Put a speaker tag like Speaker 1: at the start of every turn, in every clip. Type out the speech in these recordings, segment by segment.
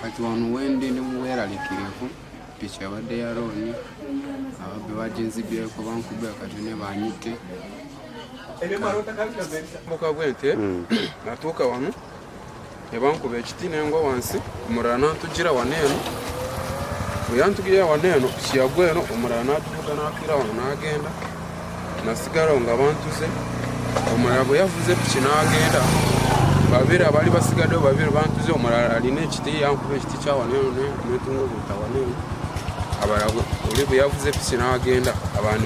Speaker 1: kati wano wendi ndi muweralikirivu piki abadde ya looni ababbi baginzibyeko bankubira kati ne banyite muka bwente hmm. natuuka wano ne bankuba ekiti nengwa wansi omulala nantugira wano eno bweyantugirira wano eno kiyagwa eno omulala natuvuga nafiira wano nagenda nasigalawo nga bantuze omulala bwe yavuze piki nagenda babiri abali basigaddewo babiri bantuze omulala alina ekiti yankuba ekiti kyawano eno netunga oli bwe yavuze piki n'agenda abantu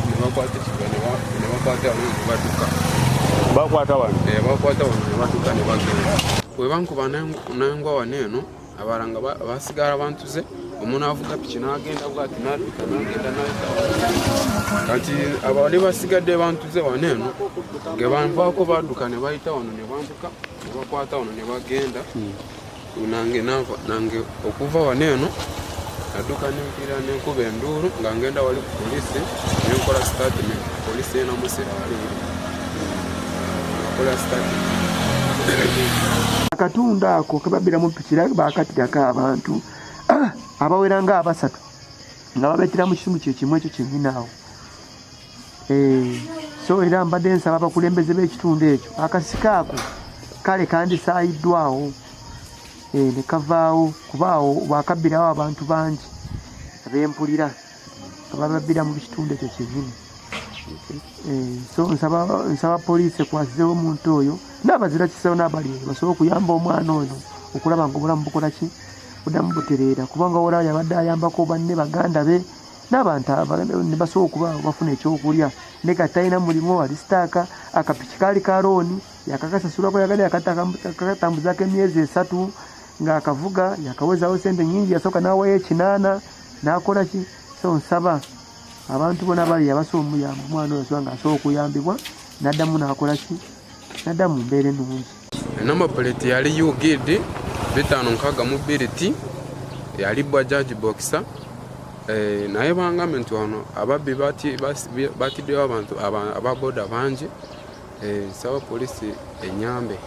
Speaker 1: nebakwata ekiga nebakwata wano nebadduka bakwata wano eh, bakwata wano nebadduka nebagenda webankuba nangwa wano eno abala nga basigala bantuze omuntu avuga piki n'agenda bwati nadduka nagenda kati abali basigadde bantuze wano eno ngebanvaako badduka nebayita wano nebambuka nebakwata wano nebagenda hmm. nange nava nange okuva wano eno naduka nempira nenkuba enduulu nga ngenda wali ku polisi nenkola statement polisi enamusira wali nakola statement
Speaker 2: akatundu ako kebabiramu pikira bakatirako abantu ah, abawera nga abasatu nga babetera mu kisimu kyekimu ekyo kyenyinaawo so era mbadde nsaba abakulembeze b'ekitundu ekyo akasika ako kale kandisaayiddwawo eh, ne kavaawo kuba awo bwakabbirawo abantu bangi abempulira abababbira mu kitundu ekyo kyenyini eh, so nsaba poliisi ekwasizewo omuntu oyo n'abazira kisawo n'abali eyo basobole okuyamba omwana oyo okulaba nga obulamu bukola ki budamu butereera kubanga olaba yabadde ayambako banne baganda be n'abantu ne basobola okuba bafuna ekyokulya ne kati talina mulimu ali sitaaka akapiki kaali ka looni yakakasasulako yagala yakatambuzako emyezi esatu ng'akavuga yakawezawo sente nyingi yasooka n'awayo ekinaana n'akola ki so nsaba abantu bona bali yabasobola omuyamba omwana oyo soba ng'asobola okuyambibwa n'addamu n'akola ki n'addamu mbeera ennungi Number plate
Speaker 1: yali UGD bitano nkaga mu bbiri ti yali Bajaj Boxer eh, naye bangambe nti wano ababbi batiddewo abantu ababoda bangi eh, saba polisi enyambe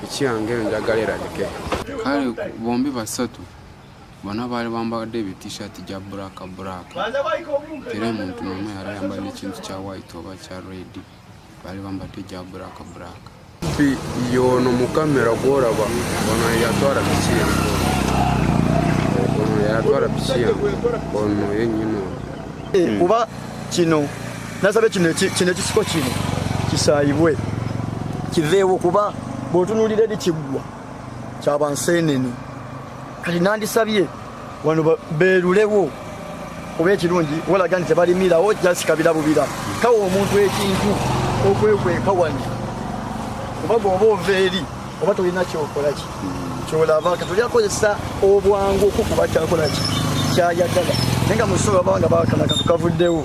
Speaker 1: ekyange njagala erabike kale bombi basatu bona baali bambadde ebitishati gya black black era omuntu nomu yali ayambadde ekintu kya white oba kya redi bali bambadde gya buraka buraka yono mukamera gworaba ono yatwara piki yange ono yatwara piki yange ono yenyini ono eh, kuba
Speaker 3: kino nasabe kino kino ekisiko kino kisayibwe kiveewo kuba bwotunulira eri kiggwa kyabansenene kati nandisabye wano beerulewo kuba ekirungi walaga nti tebalimirawo jasikabira bubira kawa omuntu ekintu okwekweka wano kuba goba ova eri oba tolina kyokolaki kyolaba katoli akozesa obwangu okukuba kyakolaki kyayagala naye nga musobola baba nga bakana katu kavuddewo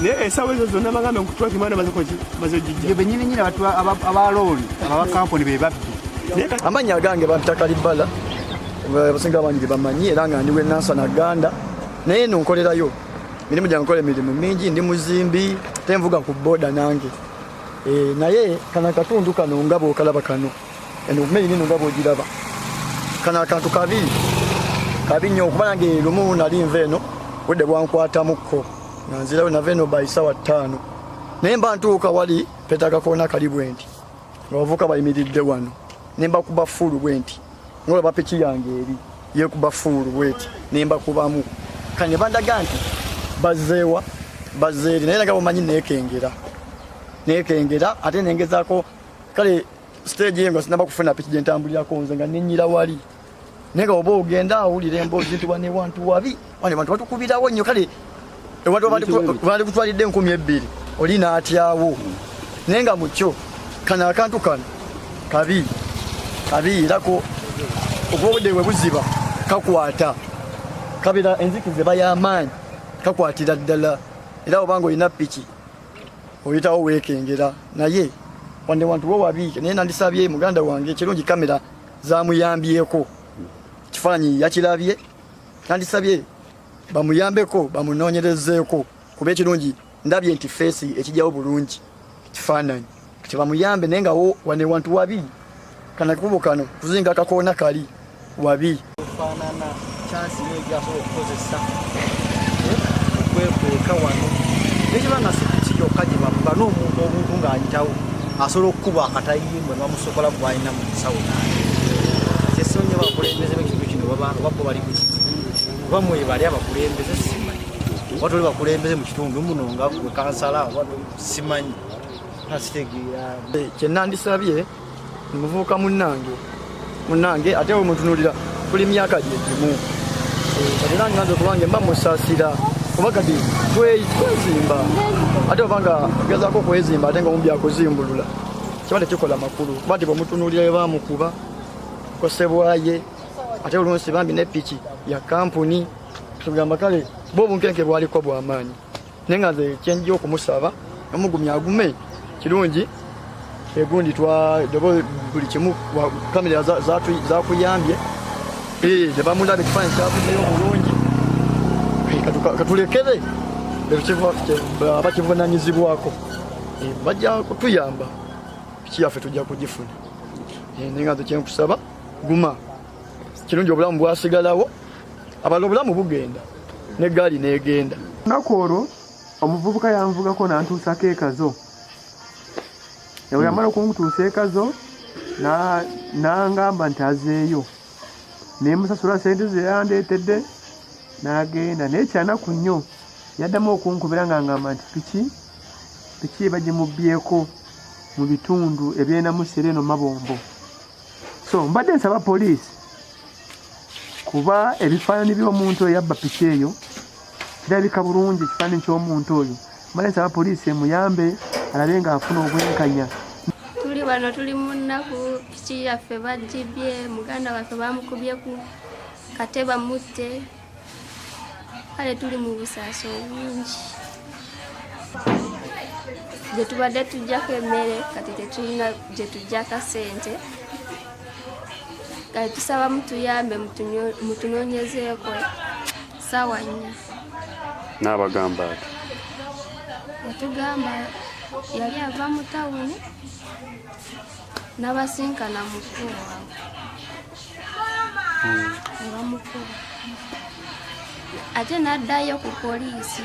Speaker 2: naye esawa ezo zonna bagambe nkutwaki mwana bazojijja benyini nyini abantu
Speaker 4: abalooli ababakampuni bebabbi amannya agange
Speaker 3: bantaka libbala abasinga abangi bamanyi era nga ndi wenansana ganda naye eno nkolerayo mirimu gyange nkola emirimu mingi ndi muzimbi te nvuga ku boda nange eh, naye kano akatundu kano nga bwokalaba kano eno kumeri nino nga bwogiraba kano akantu kabi kabi nnyo okuba nange lumu nali nva eno budde bwankwatamuko nga nzirayo nava eno by sawa ttaano naye mba ntuuka wali petaga koona kali bwe nti nga bavuka bayimiridde wano ne mbakuba fuulu bwe nti ngaolaba piki yange eri yekuba fuulu bweti ne mbakubamu kane bandaga nti bazeewa bazeeri naye naga bamanyi nekengera nekengera ate nengezako kale stage yengo sinaba kufuna piki gye ntambulirako nze nga nenyira wali naye nga oba ogenda awulira emboozi nti wane wantu wabi wane bantu batukubirawo nnyo kale bali kutwalidde enkumi ebbiri oli n'atyawo naye nga mukyo kano akantu kano kabi kabi erako okuba obudde bwe buziba kakwata kabira enzikiza eba y'amaanyi kakwatira ddala era oba nga olina piki oyitawo weekengera naye wande wantu wo wabiike naye nandisabye muganda wange ekirungi kamera zamuyambyeko kifaananyi yakirabye nandisabye bamuyambeko bamunoonyerezeeko kuba ekirungi ndabye nti feesi ekijjawo bulungi kifaananyi kati bamuyambe naye ngawo wane wantu wabi kana kubo kano kuzinga akakoona kali wabi
Speaker 5: kyansi nyo gyasobola okukozesa okwekweka wano nekiba nga sikuki yokka gye bamuba n'omuntu obuntu ng'ayitawo asobola okukuba akatayimbwe bamusobola gwalina mu nsawo kyesiba nyo bakulembeze bekintu kino babbo bali kuki oba mwebali abakulembeze simanyi oba toli bakulembeze mu kitundu muno nga gwe kansala oba simanyi asitegeera kyenandisabye
Speaker 3: muvubuka munnange munnange ate we mutunulira tuli myaka gye gimu kati nange nanze okubange mba musasira kuba kati twezimba ate oba nga gezaako okwezimba ate nga omu byakuzimbulula kiba tekikola makulu kuba nti bwemutunulira we bamukuba kosebwaye ate olunsi bambi ne piki ya kampuni tugamba kale bo obunkenke bwaliko bwamaanyi naye nga nze kyenjia okumusaba omugumya agume kirungi egundi twadaba buli kimu kamera zakuyambye nebamulaba ekifaanyi kyavudeyo bulungi katulekere abakivunanyizibwako bajja kutuyamba piki yaffe tujja kugifuna naye nga nze kyenkusaba guma kirungi obulamu bwasigalawo abala obulamu bugenda ne gaali negenda naku olwo
Speaker 2: omuvubuka yanvugako nantuusako ekazo ewe hmm. yamala okuntuusa ekazo nangamba nti azeeyo nemusasula sente zeyandeetedde nagenda naye kyanaku nnyo yaddamu okunkubira nga ngamba nti piki piki bagimubbyeko mu bitundu ebyenamusera eno mabombo so mbadde nsaba poliisi kuba ebifaananyi by'omuntu eyabba piki eyo kirabika bulungi ekifaananyi ky'omuntu oyo mbadde nsaba poliisi emuyambe alabe ng'afuna obwenkanya tuli wano
Speaker 6: tuli mu nnaku piki yaffe bajjibye muganda waffe bamukubye ku kate bamutte kale tuli mu busaasi obungi gye tubadde tujjako emmere kati tetulina gye tujjaka ssente kati tusaba mutuyambe mutunoonyezeeko saawa nnya
Speaker 7: n'abagamba ati yatugamba
Speaker 6: yali ava mu tawuni n'abasinkana mu kkuuwa nebamukuba ate naddayo ku poliisi